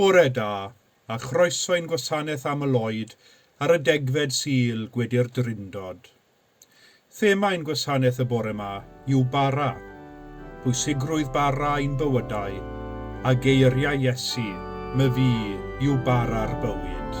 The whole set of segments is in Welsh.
Bore da, a chroeso i'n gwasanaeth aml oed ar y degfed Sul, Gwedi'r Drindod. Thema ein gwasanaeth y bore 'ma yw bara, pwysigrwydd bara i'n bywydau, a geiriau Iesu, My fi yw bara'r bywyd.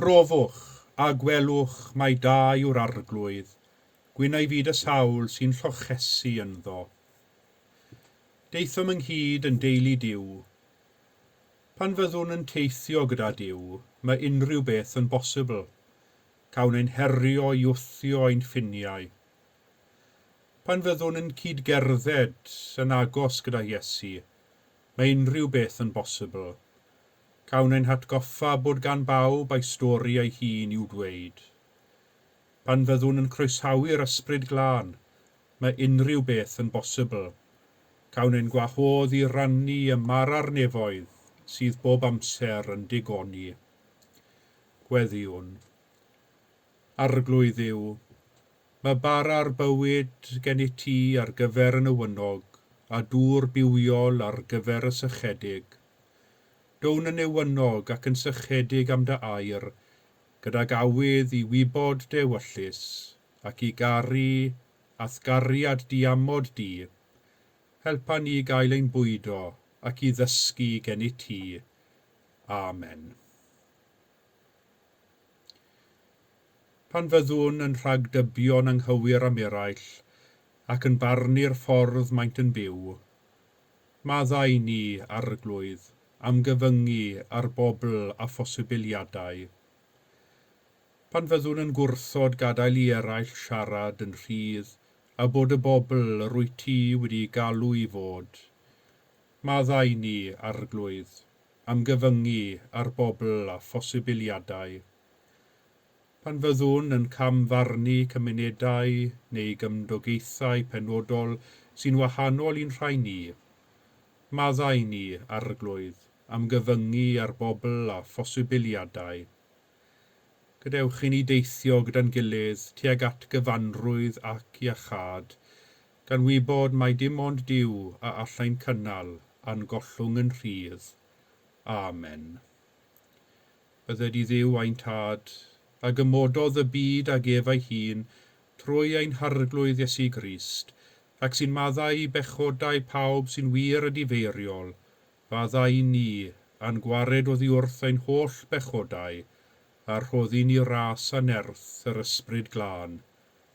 Profwch, a gwelwch mai da yw'r Arglwydd, gwyn a'i fyd y sawl sy'n llochesu ynddo. Daethom ynghyd yn deulu Duw. Pan fyddwn yn teithio gyda Duw, mae unrhyw beth yn bosibl. Cawn ein herio i wthio ein ffiniau. Pan fyddwn yn cyd-gerdded yn agos gyda Iesu, Mae unrhyw beth yn bosibl. Cawn ein hatgoffa bod gan bawb ei stori ei hun i'w dweud. Pan fyddwn yn croesawu'r Ysbryd Glân, mae unrhyw beth yn bosibl. Cawn ein gwahodd i rannu y mara'r nefoedd sydd bob amser yn digoni. Gweddïwn. Arglwydd Dduw, mae bara'r bywyd gen i ti ar gyfer y newynog, a dŵr bywiol ar gyfer y sychedig. Down yn newynog ac yn sychedig am dy air, gydag awydd i wybod dy ewyllys, ac i garu a'th gariad diamod di. Helpa ni gael ein bwydo ac i ddysgu gen i ti. Amen. Pan fyddwn yn rhagdybio'n anghywir am eraill ac yn barnu'r ffordd maent yn byw, maddau ni, Arglwydd, am gyfyngu ar bobl a phosibiliadau. Pan fyddwn yn gwrthod gadael i eraill siarad yn rhydd a bod y bobl yr wyt ti wedi'u galw i fod, maddau ni, Arglwydd, am gyfyngu ar bobl a phosibiliadau. Pan fyddwn yn cam-farnu cymunedau neu gymdogaethau penodol sy'n wahanol i'n rhai ni, maddau ni, Arglwydd, am gyfyngu ar bobl a phosibiliadau. Gadewch i ni deithio gyda'n gilydd tuag at gyfanrwydd ac iachâd, Gan wybod mai dim ond Duw a allai'n cynnal a'n gollwng yn rhydd. Amen. Bydded i Dduw ein Tad, a gymododd y byd ag ef ei hun trwy ein Harglwydd Iesu Grist, ac sy'n maddau i bechodau pawb sy'n wir a difeiriol, fadda i ni, a'n gwared oddiwrth ein holl bechodau, a rhoddi ni ras a nerth yr Ysbryd Glân.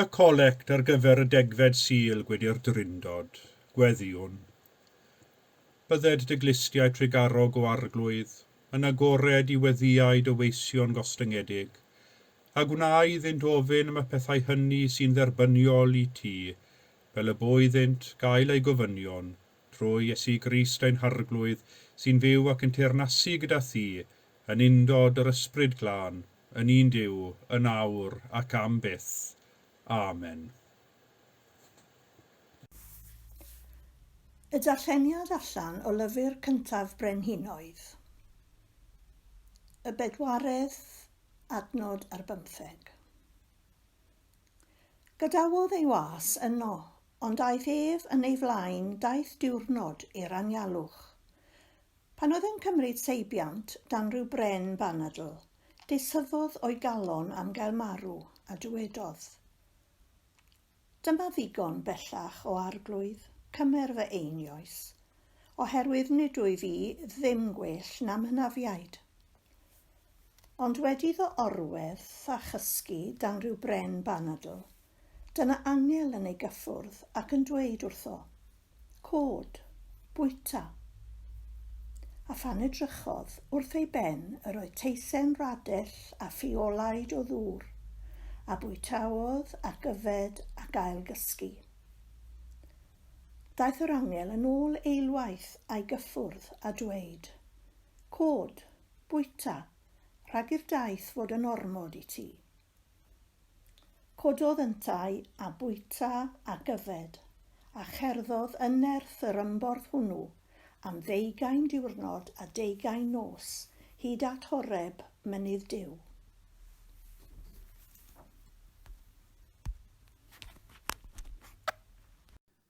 Y collect ar gyfer y degfed Sul Gwydr Drindod, Gweddïwn. Bydded dy glustiau trugarog o arglwydd yn agored i weddïau dy weision gostyngedig, a gwna iddynt ofyn am y pethau hynny sy'n dderbyniol i ti, fel y bo iddynt gael eu gofynion Trwy Iesu Grist ein Harglwydd, sy'n fyw ac yn teyrnasu gyda Thi, yn undod yr Ysbryd Glân, yn un Duw, yn awr ac am byth. Amen. Y darlleniad allan o lyfr cyntaf Brenhinoedd, y bedwaredd adnod ar bymtheg. Gadawodd ei was yno Ond aeth ef yn ei flaen daith diwrnod i'r anialwch. Pan oedd e'n cymryd seibiant dan ryw bren banadl, disyddodd o'i galon am gael marw, a dywedodd, Dyma ddigon bellach o arglwydd, cymer fy einioes, oherwydd nid wyf i ddim gwell na'm hynafiaid. Ond wedi iddo orwedd a chysgu dan ryw bren banadl, Dyna angel yn ei gyffwrdd ac yn dweud wrtho, Cod, bwyta. A phan edrychodd wrth ei ben yr oedd teisen radell a ffiolaid o ddŵr, a bwytaodd ac yfed ac ailgysgu. Daeth yr angel yn ôl eilwaith a'i gyffwrdd a dweud, Cod, bwyta, rhag i'r daith fod yn ormod i ti. Cododd yntau a bwyta ac yfed, a cherddodd yn nerth yr ymborth hwnnw am ddeugain diwrnod a deugain nos, hyd at Horeb, mynydd Duw.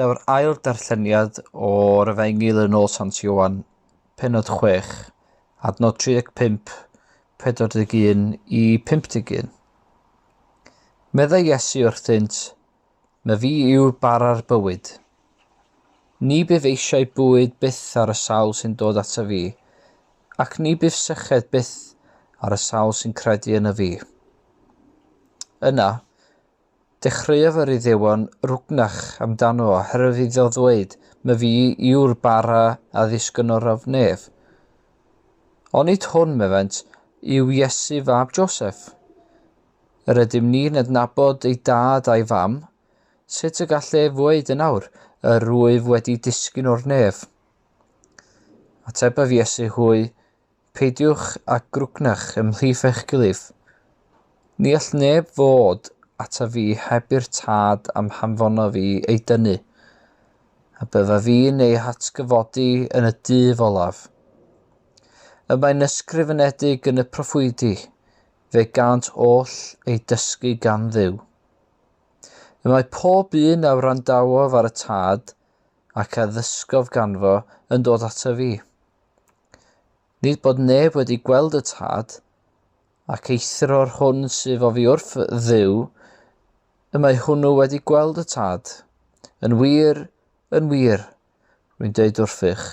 Daw'r ail darlleniad o'r Efengyl yn ôl Sant Ioan, penod 6, adnod 35, 41 i 51. Meddai Iesu wrthynt, Na fi yw bara'r bywyd. Ni bydd eisiau bwyd byth ar y sawl sy'n dod ato fi, ac ni bydd syched byth ar y sawl sy'n credu yn y fi. Yna, Dechreuodd yr Iddewon rwgnach amdano oherwydd iddo ddweud, My fi yw'r bara a ddisgynorodd nef. Onid hwn, mefent, yw Iesu fab Joseff? Yr ydym ni'n adnabod ei dad a'i fam, sut y gall ef ddweud yn awr, Yr wyf wedi disgyn o'r nef? Atebodd Iesu hwy, Peidiwch â grwgnach ymhlith eich gilydd. Ni all neb ddod ata fi heb i'r Tad a'm hanfona fi ei dynnu, a bydda fi'n ei hatgyfodi yn y dydd olaf. Y mae'n ysgrifenedig yn y proffwydi, fe gant oll ei dysgu gan dduw. Y mae pob un a wrandawof ar y Tad, ac a ddysgof ganfo, yn dod ata fi. Nid bod neb wedi gweld y tad, ac eithror hwn sydd o fi wrth dduw, y mae hwnnw wedi gweld y tad. Yn wir, yn wir, rwy'n dweud wrthych,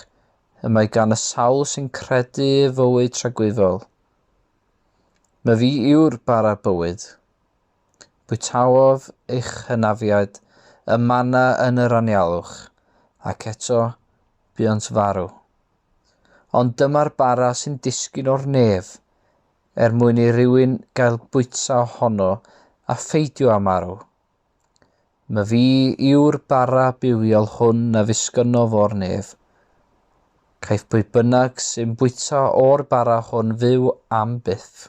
y mae gan y sawl sy'n credu fywyd tragwyddol. Mae fi yw'r bara bywyd. Bwytaof eich hynafiaid y manna yn yr anialwch, ac eto buont farw. Ond dyma'r bara sy'n disgyn o'r nef er mwyn i rywun gael bwyta ohono a pheidio â marw. My fi yw'r bara bywiol hwn na ddisgynnodd o'r nef. Caiff pwy bynnag sy'n bwyta o'r bara hwn fyw am byth.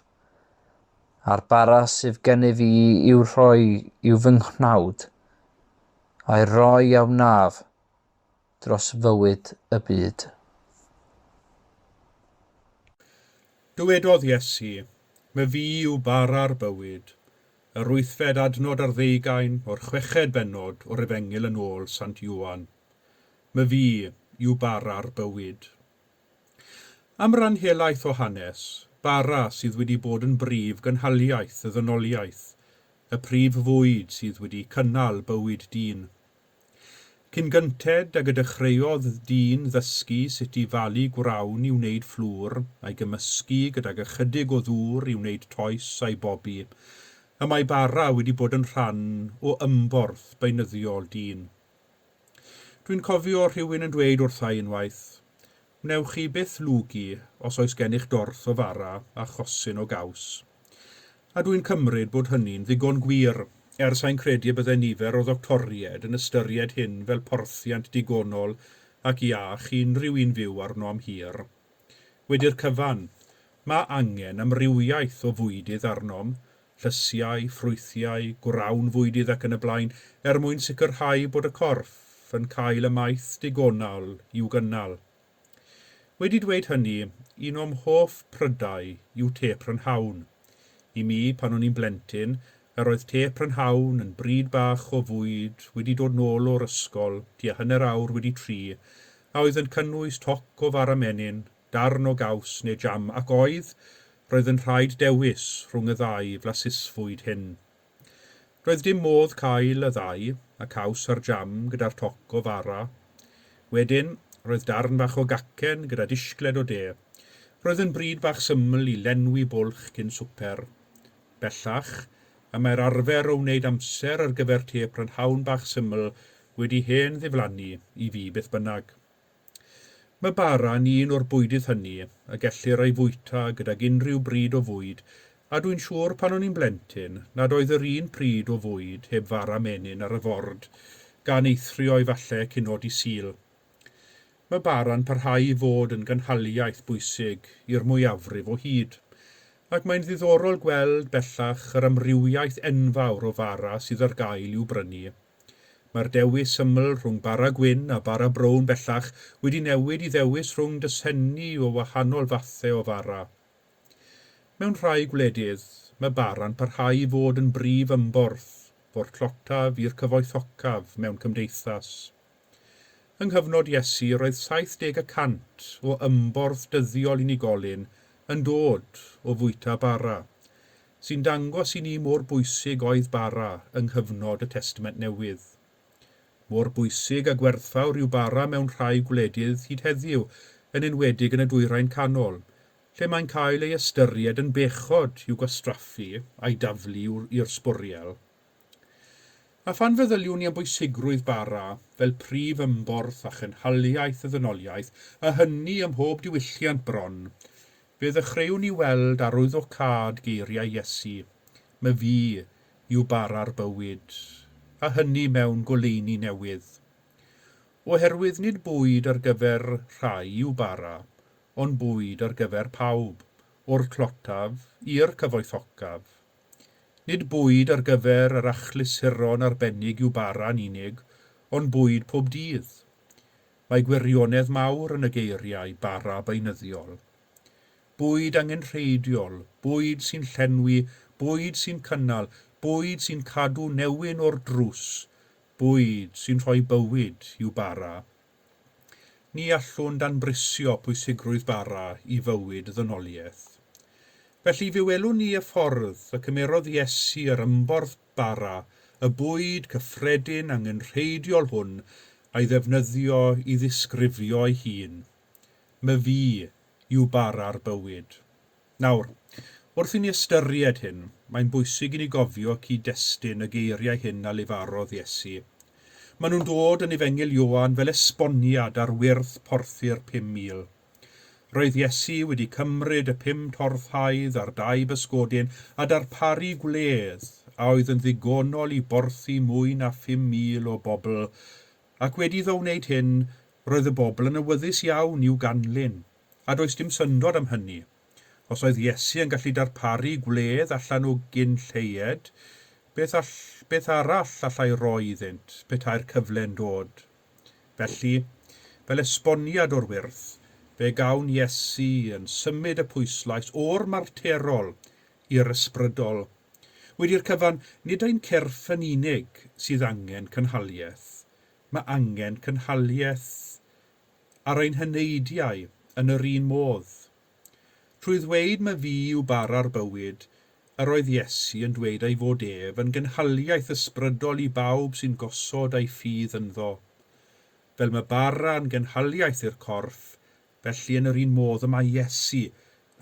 A'r bara sydd gennyf fi i'w rhoi i'w fy nghnawd. A'i roi a wnaf. dros fywyd y byd. Dywedodd Iesu, My fi yw bara'r bywyd. Yr wythfed adnod ar ddeugain o'r chweched bennod o'r Efengyl yn ôl Sant Ioan. My fi yw bara'r bywyd. Am ran helaeth o hanes, bara sydd wedi bod yn brif gynhaliaeth y ddynoliaeth, y prif fwyd sydd wedi cynnal bywyd dyn. Cyn gynted ag y dechreuodd dyn ddysgu sut i falu gwrawn i wneud fflwr, a'i gymysgu gydag ychydig o ddŵr i wneud toes a'i bobi, y mae bara wedi bod yn rhan o ymborth beunyddiol dyn. Dwi'n cofio rhywun yn dweud wrtha i unwaith, Wnewch chi byth lwgu os oes gennych dorth o fara a chosyn o gaws. A dwi'n cymryd bod hynny'n ddigon gwir, er sai'n credu y bydde nifer o ddoctoried yn ystyried hyn fel porthiant digonol ac iach i unrhyw un fyw arno am hir. Wedi'r cyfan, mae angen amrywiaeth o fwydydd arnom, llysiau, ffrwythiau, gwrawn fwydydd ac yn y blaen, er mwyn sicrhau bod y corff yn cael y maeth digonol i'w gynnal. Wedi dweud hynny, un o'm hoff prydau yw te prynhawn. I mi, pan o'n i'n blentyn, yr oedd te prynhawn yn bryd bach o fwyd wedi dod nôl o'r ysgol tua hanner awr wedi tri a oedd yn cynnwys toc o fara menyn, darn o gaws neu jam ac oedd, roedd yn rhaid dewis rhwng y ddau flasusfwyd hyn. Doedd dim modd cael y ddau, y caws a'r jam gyda'r toc o fara. Wedyn, roedd darn fach o gacen gyda dishgled o de. Roedd yn bryd bach syml i lenwi bwlch cyn swper. Bellach, y mae'r arfer o wneud amser ar gyfer te prynhawn bach syml wedi hen ddiflannu i fi beth bynnag. Mae bara yn un o'r bwydydd hynny y gellir ei fwyta gydag unrhyw bryd o fwyd a dwi'n siŵr pan o'n i'n blentyn nad oedd yr un pryd o fwyd heb fara menyn ar y ford gan eithrio efallai cyn nod i Sul. Mae bara'n parhau i fod yn gynhaliaeth bwysig i'r mwyafrif o hyd ac mae'n ddiddorol gweld bellach yr amrywiaeth enfawr o fara sydd ar gael i'w brynu. Mae'r dewis syml rhwng bara gwyn a bara brown bellach wedi newid i ddewis rhwng dosenni o wahanol fathau o fara. Mewn rhai gwledydd, mae bara'n parhau i fod yn brif ymborth o'r tlotaf i'r cyfoethocaf mewn cymdeithas. Yng nghyfnod Iesu roedd 70 y cant o ymborth dyddiol unigolyn yn dod o fwyta bara, sy'n dangos i ni mor bwysig oedd bara yng nghyfnod y Testament Newydd. Mor bwysig a gwerthfawr yw bara mewn rhai gwledydd hyd heddiw, yn enwedig yn y Dwyrain Canol, lle mae'n cael ei ystyried yn bechod i'w gwastraffu a'i daflu i'r sbwriel. A phan feddyliwn ni am bwysigrwydd bara fel prif ymborth a chynhaliaeth y ddynoliaeth, a hynny ym mhob diwylliant bron, fe ddechreuwn ni weld arwyddocâd geiriau Iesu, My Fu yw bara'r bywyd, a hynny mewn goleuni newydd. Oherwydd nid bwyd ar gyfer rhai yw bara, ond bwyd ar gyfer pawb, o'r tlotaf i'r cyfoethocaf, Nid bwyd ar gyfer yr achlysuron arbennig yw bara'n unig, ond bwyd pob dydd. Mae gwirionedd mawr yn y geiriau 'bara beunyddiol'. Bwyd angenrheidiol, bwyd sy'n llenwi, bwyd sy'n cynnal, bwyd sy'n cadw newyn o'r drws, bwyd sy'n rhoi bywyd yw bara Ni allwn danbrisio pwysigrwydd bara i fywyd ddynoliaeth. Felly, fe welwn ni y ffordd y cymerodd Iesu yr ymborth bara, y bwyd cyffredin angenrheidiol hwn, a'i ddefnyddio i ddisgrifio'i hun. 'Myfi yw bara'r bywyd. Nawr, wrth i ni ystyried hyn, mae'n bwysig i ni gofio cyd-destun y geiriau hyn a lefarodd Iesu. Maen nhw'n dod yn Efengyl Ioan fel esboniad ar wyrth porthi'r pum mil. Roedd Iesu wedi cymryd y pum torth haidd a'r dau bysgodyn a darparu gwledd a oedd yn ddigonol i borthi mwy na phum mil o bobl, ac wedi iddo wneud hyn, roedd y bobl yn awyddus iawn i'w ganlyn. a does dim syndod am hynny. Os oedd Iesu yn gallu darparu gwledd allan o gyn lleied, beth all, beth arall allai roi iddynt, petai'r cyfle'n dod? Felly, fel esboniad o'r wyrth, fe gawn Iesu yn symud y pwyslais o'r marterol i'r ysbrydol. Wedi'r cyfan, nid ein cyrff yn unig sydd angen cynhaliaeth, mae angen cynhaliaeth ar ein heneidiau yn yr un modd. Trwy ddweud ma fi yw bara'r bywyd, yr oedd Iesu yn dweud ei fod ef yn gynhaliaeth ysbrydol i bawb sy'n gosod ei ffydd ynddo. Fel ma bara yn gynhaliaeth i'r corff, felly yn yr un modd y mae Iesu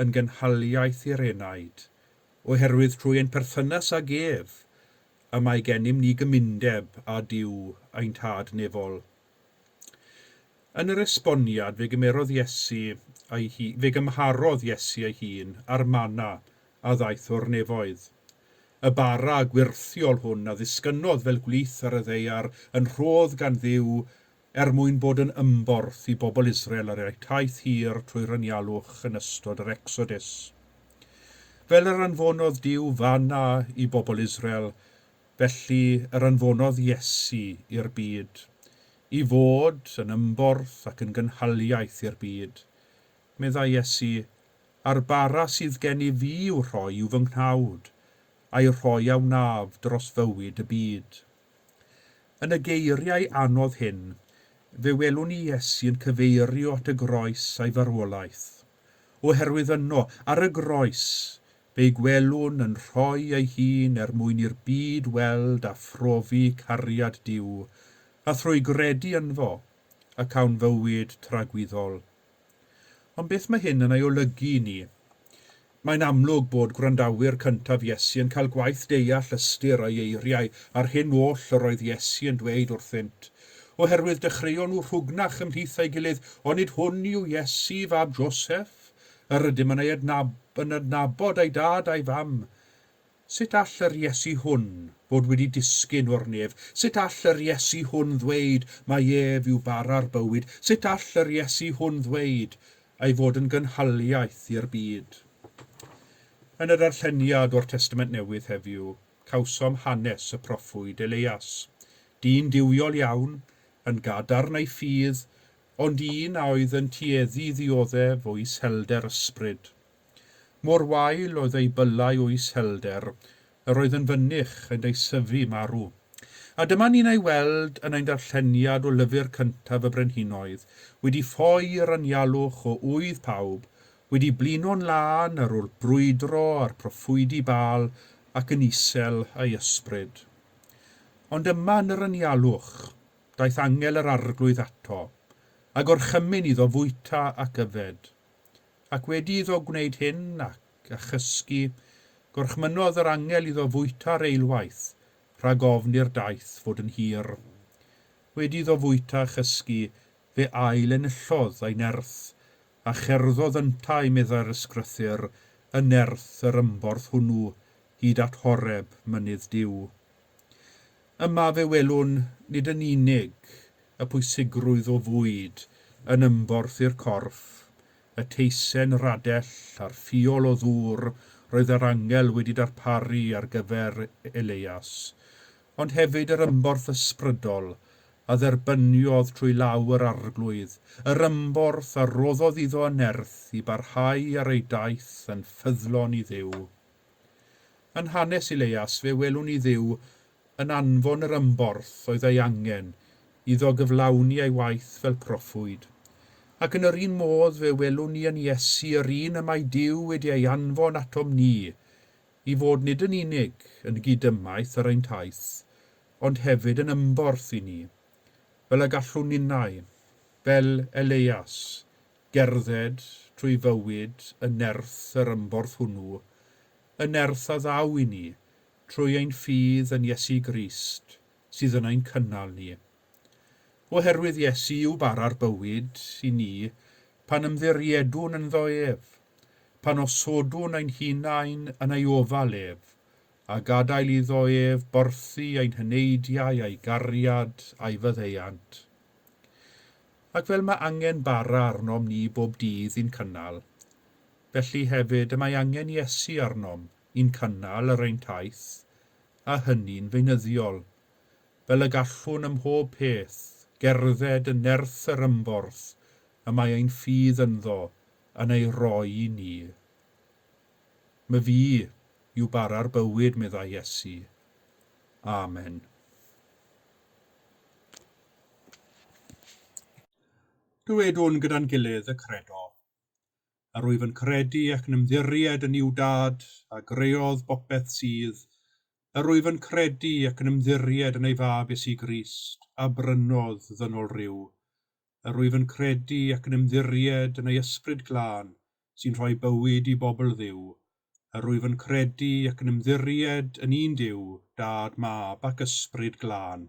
yn gynhaliaeth i'r enaid, oherwydd trwy ein perthynas ag ef y mae gennym ni gymundeb â Duw ein Tad nefol. Yn yr esboniad fe gymerodd Iesu ei hu-, fe gymharodd Iesu ei hun â'r mana a ddaeth o'r nefoedd. Y bara gwyrthiol hwn a ddisgynnodd fel gwlith ar y ddaear yn rhodd gan Dduw er mwyn bod yn ymborth i bobl Israel ar eu taith hir trwy'r anialwch yn ystod yr Ecsodus. Fel yr anfonodd Duw fana i bobl Israel, Felly yr anfonodd Iesu i'r byd, i fod yn ymborth ac yn gynhaliaeth i'r byd. Meddai Iesu, A'r bara sydd gen i fi i'w rhoi i'w fy nghnawd, a'i rhoi a wnaf dros fywyd y byd. Yn y geiriau anodd hyn, fe welwn ni Iesu yn cyfeirio at y groes a'i farwolaeth, oherwydd yno, ar y groes, Fe'i gwelwn yn rhoi ei hun er mwyn i'r byd weld a phrofi cariad Duw, a thrwy gredu ynddo y cawn fywyd tragwyddol. Ond beth mae hyn yn ei olygu i ni? Mae'n amlwg bod gwrandawyr cyntaf Iesu yn cael gwaith deall ystyr ei eiriau a'r hyn oll yr oedd Iesu yn dweud wrthynt, oherwydd dechreuon nhw rhwgnach ymhlith ei gilydd, Onid hwn yw Iesu, fab Joseph? Yr ydym yn ei adnabod a'i dad a'i fam. Sut all yr Iesu hwn fod wedi disgyn o'r nef? Sut all yr Iesu hwn ddweud mai ef yw bara'r bywyd? Sut all yr Iesu hwn ddweud ei fod yn gynhaliaeth i'r byd? Yn y darlleniad o'r Testament Newydd heddiw, cawsom hanes y proffwyd Elias. Dyn duwiol iawn, yn gadarn ei ffydd, ond un a oedd yn tueddu i ddioddef o iselder ysbryd. Mor wael oedd ei byllau o iselder, yr oedd yn fynych, yn ei syfu marw. A dyma ni'n ei weld yn ein darlleniad o lyfr cyntaf y Brenhinoedd, wedi ffoi i'r anialwch o ŵydd pawb, wedi blino'n lân ar ôl brwydro â'r proffwydi Baal ac yn isel ei ysbryd. Ond yma yn yr anialwch, daeth angel yr Arglwydd ato, a gorchymyn iddo fwyta ac yfed. Ac wedi iddo gwneud hyn, ac, a chysgu, gorchmynodd yr angel iddo fwyta reilwaith, rhag ofn i'r daeth fod yn hir. Wedi iddo fwyta a chysgu, fe ail-enillodd ei nerth, a cherddodd yntau, meddai'r Ysgrythyr, y nerth yr ymborth hwnnw, hyd at Horeb, mynydd Duw. Yma fe welwn nid yn unig y pwysigrwydd o fwyd yn ymborth i'r corff, y teisen radell a'r ffiol o ddŵr roedd yr angel wedi darparu ar gyfer Eleias, ond hefyd yr ymborth ysbrydol a dderbyniodd trwy law yr Arglwydd, yr ymborth a roddodd iddo yn nerth i barhau ar ei daith yn ffyddlon i Dduw. Yn hanes Ileias fe welwn ni Dduw yn anfon yr ymborth oedd ei angen iddo gyflawni ei waith fel proffwyd. Ac yn yr un modd fe welwn ni yn Iesu yr un y mae Duw wedi ei anfon atom ni i fod nid yn unig yn gyd-ymaith ar ein taith, ond hefyd yn ymborth i ni, fel y gallwn ninnau, fel Eleias, Gerdded trwy fywyd yn nerth yr ymborth hwnnw, y nerth a ddaw i ni trwy ein ffydd yn Iesu Grist sydd yn ein cynnal ni. Oherwydd Iesu yw bara'r bywyd i ni pan ymddiriedwn ynddo ef, pan osodwn ein hunain yn ei ofal ef, a gadael iddo ef borthi ein heneidiau a'i gariad a'i faddeuant. ac fel mae angen bara arnom ni bob dydd i'n cynnal, felly hefyd y mae angen Iesu arnom i'n cynnal ar ein taith, a hynny'n feunyddiol, fel y gallwn ym mhob peth gerdded yn nerth yr ymborth y mae ein ffydd ynddo yn ei roi i ni. Myn fi yw bara'r bywyd, meddai Iesu. Amen. Dywedwn gyda'n gilydd y Credo. Yr wyf yn credu ac yn ymddiried yn Iw Dad, a greodd bopeth sydd. Yr wyf yn credu ac yn ymddiried yn ei Fab Iesu Grist, a brynodd ddynol ryw. Yr wyf yn credu ac yn ymddiried yn ei Ysbryd Glân, sy'n rhoi bywyd i bobl Dduw. Yr wyf yn credu ac yn ymddiried yn un Duw, Dad, Mab, ac Ysbryd Glân.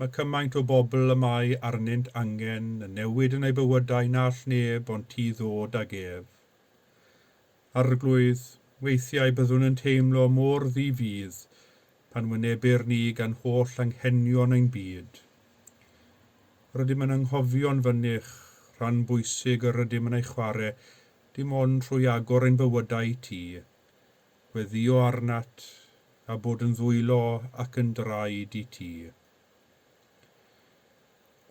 Mae cymaint o bobl y mae arnynt angen y newid yn eu bywydau na all neb ond ti ddod ag ef. Arglwydd, weithiau byddwn yn teimlo mor ddi-fudd pan wynebir ni gan holl anghenion ein byd. Rydym yn anghofio'n fynych rhan bwysig yr ydym yn ei chwarae dim ond trwy agor ein bywydau i ti, Gweddïo arnat, a bod yn ddwylo ac yn draed i ti.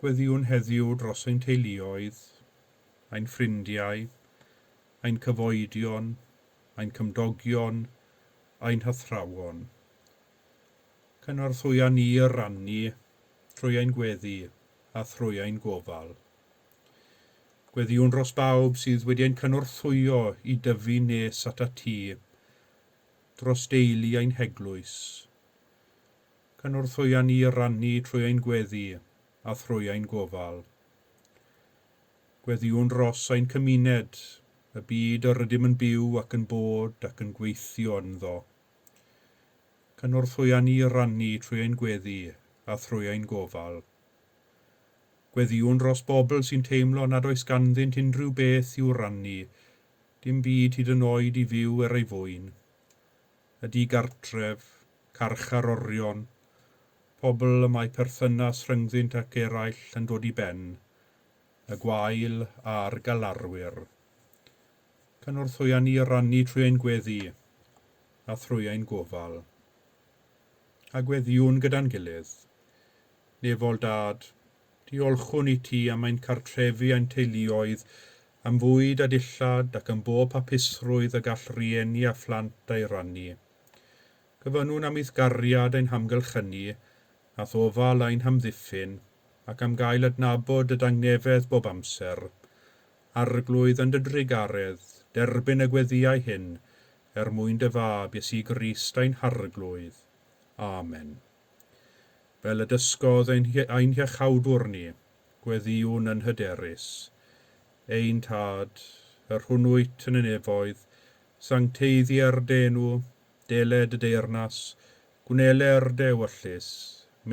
Gweddïwn heddiw dros ein teuluoedd, ein ffrindiau, ein cyfoedion, ein cymdogion, ein hathrawon. Cynorthwya ni i rannu trwy ein gweddi a thrwy ein gofal. Gweddïwn dros bawb sydd wedi ein cynorthwyo i dyfu nes at ati, dros deulu ein heglwys. Cynorthwya ni i rannu trwy ein gweddi a thrwy ein gofal. Gweddïwn dros ein cymuned, y byd yr ydym yn byw ac yn bod ac yn gweithio ynddo. Cynorthwya ni i rannu trwy ein gweddi a thrwy ein gofal. Gweddïwn dros bobl sy'n teimlo nad oes ganddynt unrhyw beth i'w rannu, dim byd hyd yn oed i fyw er ei fwyn. Y digartref, carchar orion, pobl y mae perthynas rhyngddynt ac eraill yn dod i ben, y gwael a'r galarwyr. Cynorthwya ni i rannu trwy ein gweddi a thrwy ein gofal. A gweddïwn gyda'n gilydd. Nefol Dad, diolchwn i ti am ein cartrefu ein teuluoedd, am fwyd a dillad ac am bob hapusrwydd y gall rieni a phlant ei rannu. Gofynnwn am eithgariad ein hamgylchynu, a thofal ein hamddiffyn, ac am gael adnabod dy dangnefedd bob amser. Arglwydd yn dy drugaredd, derbyn y gweddïau hyn, er mwyn dy Fab, Iesu Grist ein Harglwydd. Amen. Fel y dysgodd ein hiachawdwr ni, Gweddïwn yn hyderus, Ein Tad, yr hwnnwyt yn y nefoedd, sancteiddier dy enw, dele dy deyrnas, gwneler dy ewyllys,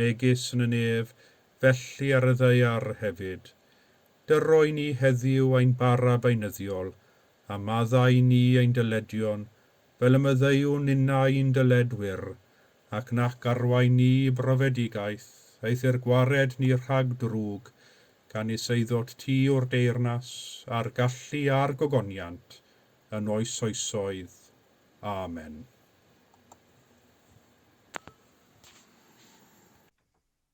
megis yn y nef, felly ar y ddaear hefyd. Dyro i ni heddiw ein bara beunyddiol, a maddau i ni ein dyledion, fel y maddeuwn ninnau i'n dyledwyr, ac nac arwain ni i brofedigaeth, eithr gwared ni rhag drwg, gan ni seuddot ti o'r deyrnas, a'r gallu, a'r gogoniant, yn oes oesoedd. Amen.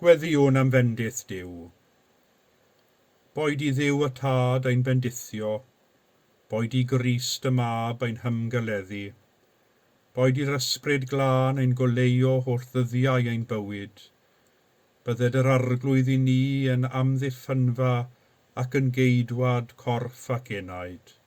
Gweddïwn am fendith Duw. Boed i Dduw y Tad ein bendithio, boed i Grist y Mab ein hymgeleddu, boed i'r Ysbryd Glân ein goleuo holl ddyddiau ein bywyd, bydded yr Arglwydd i ni yn amddiffynfa ac yn geidwad corff ac enaid.